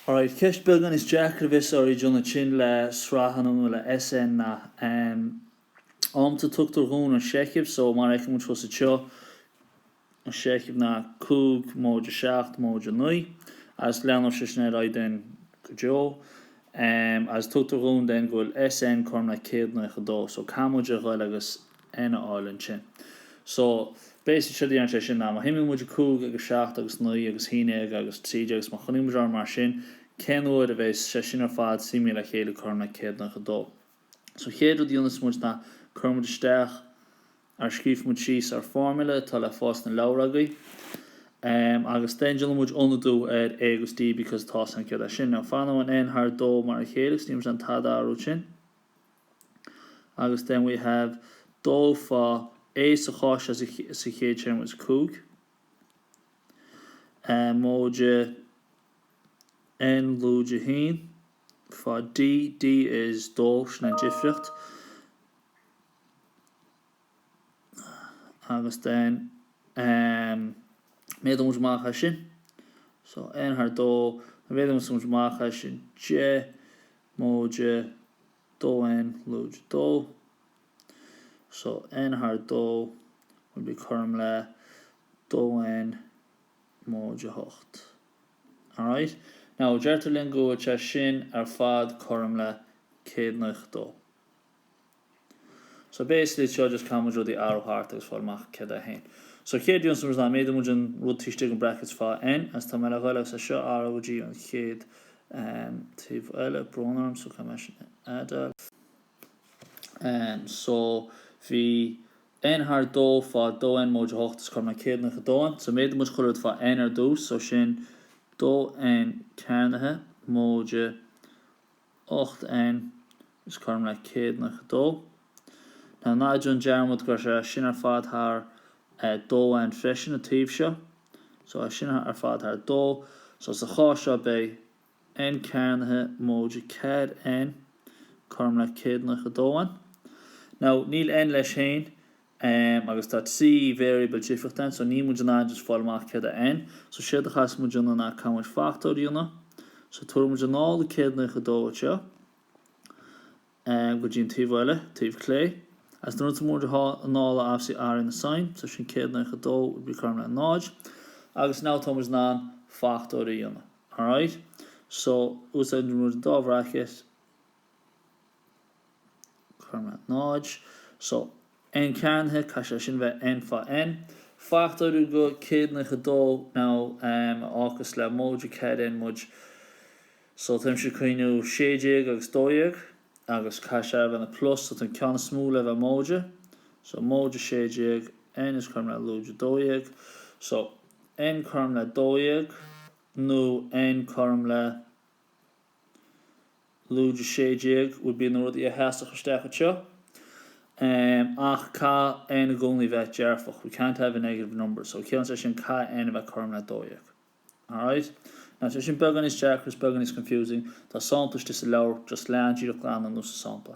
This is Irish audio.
Alright, ceist beagán níos deacra a bhíos oraibh a dhéanamh ansin le sraitheanna nó le SN ná. Amanta tugtar dhúinn an seicheamh so mar a fheiceann muid thuas anseo, an seicheamh ná cúig móide seacht móide naoi agus leanfadh sé sin ar aghaidh then go deo. Agus tugtar dhúinn then go bhfuil SN cothrom le céad naocha dó so caithfidh muid a ghoil agus. N a fháil ansin. So, basically séard é sin ná má shuimigh muid a cúig agus seacht agus naoi agus haon déag agus trí déag agus má choinnigh muid air mar sin, cén uair a bheas sé sin ar fad suimithe le chéile cothrom le céad naocha dó. So chéad rud a dhéanas muid ná cuirim muid isteach or scríobhfaidh muid síos ár formula atá le fáil sna leabhair agaibh em agus then déanann muid ionadú ar A agus D because tá a fhios againn céard é sin. Now fanann an N thar dó mar a chéile agus níl muid in ann tada a athrú ansin. agus then we have dó fá A sa chás seo an chéad téarma is cúig móide N lúide haon fá D, D is dó, sin an difríocht. agus then méadaíonn muid amach é sin. So, n thar dó má mhéadaíonn muid amach é sin deich móide 2n lúide 2. So, n thar dó will be cothrom le 2n móide 8. Alright? Now, deirtear linn go bhfuil sé sin ar fad cothrom le 192. So basically it's just caithfidh muid rudaí a athrú thart agus fáil amach céard é N. So chéad rud a dhéanas muid ná méadaíonn muid an rud taobh istigh den brackets fá N agus tá mé le ghoil agus é seo a athrú go dtí an chéad taobh eile brón orm so caithfidh mé sin a fheideáil. So bhí N thar 2 fá 2N móide 8 is cothrom le céad naocha 2 ann so méadaíonn muid chuile rud fá N ar dtús so sin 2N cearnaithe móide 8N, is cothrom le céad naocha 2. Now ná déan dearmad gur é sin ar fad thar 2 ann freisin an taobh seo, so é sin ar fad thar 2, so sa chás seo beidh N cearnaithe móide 4N, cothrom le céad naocha 2 ann. Now níl N leis féin, Em, agus tá trí variable difríochta ann, so níl muid in ann just fáil amach céard é N. So séard a chaithfeas muid a dhéanamh ná caithfidh muid fachtóirí a dhéanamh. So tabharfaidh muid anall an 192 as seo go dtí an taobh eile, taobh clé. Agus nuair a thabharfas muid anall é obviously athraíonn an sign, so sin 192 would be cothrom le 0. Agus now tá muid in ann fachtóirí a dhéanamh. Alright? So úsáideann muid an dá bhracket. 0 so N cearnaithe, caithfidh sé sin a bheith N fá N. Fachtóiriú go 192 now a fhágfas le móide 4 N muid so táimse ag cuimhniú 16 agus 12 agus caithfidh sé a bheith ina plus so tá an ceann is mó le bheith móide so móide 16 N is cothrom le lúide 12 so N cothrom le 12 nó N cothrom le Lúide 16, would be na rudaí a sheasfadh isteach anseo. Ach caithfidh N i gcónaí bheith dearfach, we can't have a negative number, so ciallaíonn sé sin caithfidh N a bheith cothrom le dó dhéag. Alright? Now tá sé sin beagán níos deacra is beagán níos confusing, tá sampla istigh sa leabhar, just lean díreach glan anuas sa sampla.